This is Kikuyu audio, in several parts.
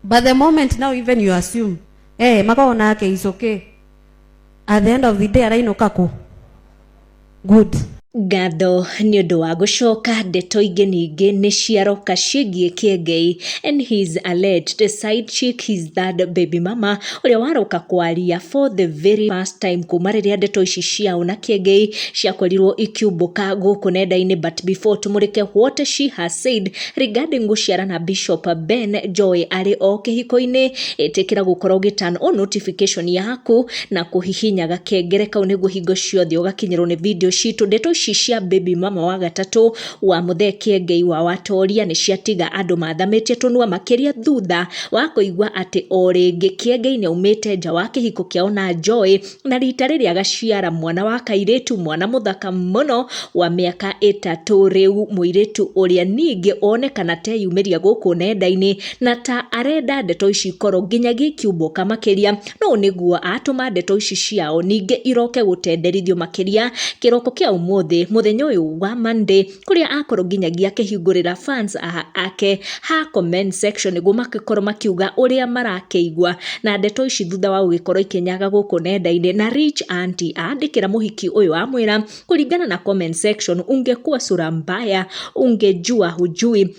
But the moment now even you assume, eh, makao nake is okay. At the end of the day arainũka kũ? Good. ngatho nĩ ũndũ wa gũcoka ndeto ingĩ ningĩ nĩ ciaroka ciĩgiĩ kĩengei and his alleged side chick his third baby mama ũrĩa waroka kwaria for the very first time kuma rĩrĩa ndeto ici ciao na kĩengei ciakorirwo ikiumbũka gũkũ nenda-inĩ but before tũmũrĩke what she has said Regarding gũciara na Bishop Ben Njoĩ arĩ o kĩhiko-inĩ, ĩtĩkĩra gũkorwo ũgĩ turn on notification yaku na kũhihinya gakengere kau nĩguo hingo ciothe ũgakinyĩrwo nĩ video citũ. Ndeto ici cia baby mama wa gatatũ wa Mũthee Kĩengei wa Watoria nĩ ciatiga andũ mathamĩtie tũnua makĩria thutha wa kũigua atĩ o rĩngĩ Kĩengei nĩ aumĩte nja wa kĩhiko kĩao na Njoĩ. na rita rĩrĩ agaciara mwana wa kairĩtu mwana mũthaka mũno wa mĩaka ĩtatũ rĩu mũirĩtu ũrĩa ningĩ onekana teyumĩria gũkũ nenda-inĩ na ta arenda ndeto ici ikorwo nginyagia ikiumbũka makĩria no nĩguo atũma ndeto ici ciao ningĩ iroke gũtenderithio makĩria kĩroko kĩa ũmũthĩ mũthenya ũyũ wa Monday kũrĩa akorwo nginyagia akĩhingũrĩra fans ake ha comment section nĩguo magĩkorwo makiuga ũrĩa marakĩigua na ndeto ici thutha wa gũgĩkorwo ikĩnyaga gũkũ nenda-inĩ na Rich Auntie andĩkĩra mũhiki ũyũ amwĩra kũringana na comment section ungekuwa sura mbaya ungejua hujui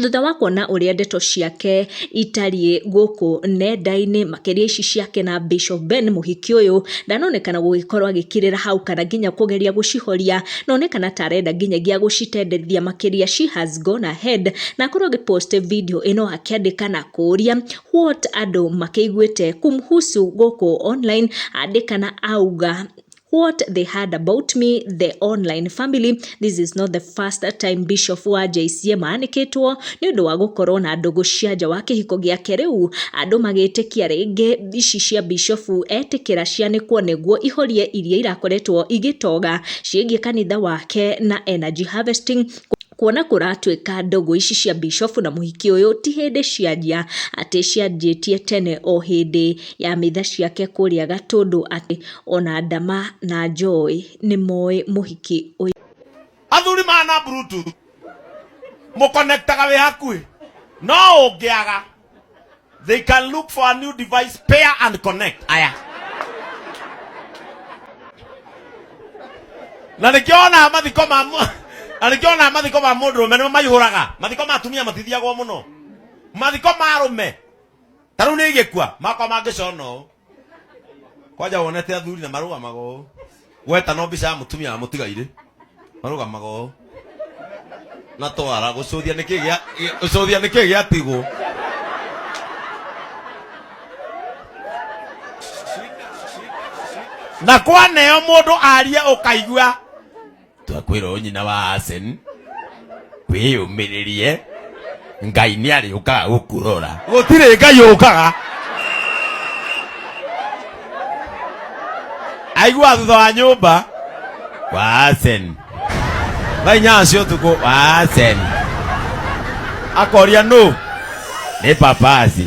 Thutha wa kuona ũrĩa ndeto ciake itariĩ gũkũ nenda-inĩ, makĩria ici ciake na Bishop Ben mũhiki ũyũ, ndanonekana gũgĩkorwo agĩkirĩra hau kana nginya kũgeria gũcihoria, na one kana ta arenda nginyagia gũcitendethia makĩria she has gone ahead na akorwo agĩ post video ĩno akĩandĩka na kũria what andũ makĩiguĩte kumhusu gũkũ online, andĩka na auga. what they heard about me the online family this is not the first time bishop wa JCM aanĩkĩtwo nĩ ũndũ wa gũkorwo na ndũgũ cia nja wa kĩhiko gĩake rĩu andũ magĩtĩkia rĩngĩ ici cia bishop etĩkĩra cianĩkwo nĩguo ihorie iria irakoretwo igĩtoga ciĩgiĩ kanitha wake na energy harvesting kuona kũratuĩka ndũgũ ici cia bishofu na mũhiki ũyũ ti hĩndĩ cianjia atĩ cianjĩtie tene o hĩndĩ ya mitha ciake kũrĩa gatũndũ atĩ Ona Ndama na Joy nĩmoĩ mũhiki ũyũ. Athuri maya na bluetooth mũ connectaga wĩ hakuhĩ no ũngĩaga they can look for a new device pair and connect aya na nĩkĩo wonaga mathiko ma mũ- na nĩkĩo wonaga mathiko ma mũndũrũme nĩmo maihũraga mathiko ma atumia matithiagwo mũno mathiko ma arũme ta rĩu nĩ igĩkua makwa mangĩcona ũũ kwanja wonete athuri na marũgamaga ũũ gweta no mbica ya mũtumia wa mũtigairĩ marũgamaga ũũ na twara gũcũthia nĩkĩ gĩa gĩ- gũcũthia nĩkĩ gĩatigwo na kwaneo mũndũ aria ũkaigua twakwĩra ũyũ nyina wa Asen wĩyũmĩrĩrie ngai nĩ arĩũkaga gũkũrora gũtirĩ ngai ũkaga aigua thutha wa nyũmba wa Asen thaa inyanya cia ũtukũ wa Asen akoria nũ nĩ papasi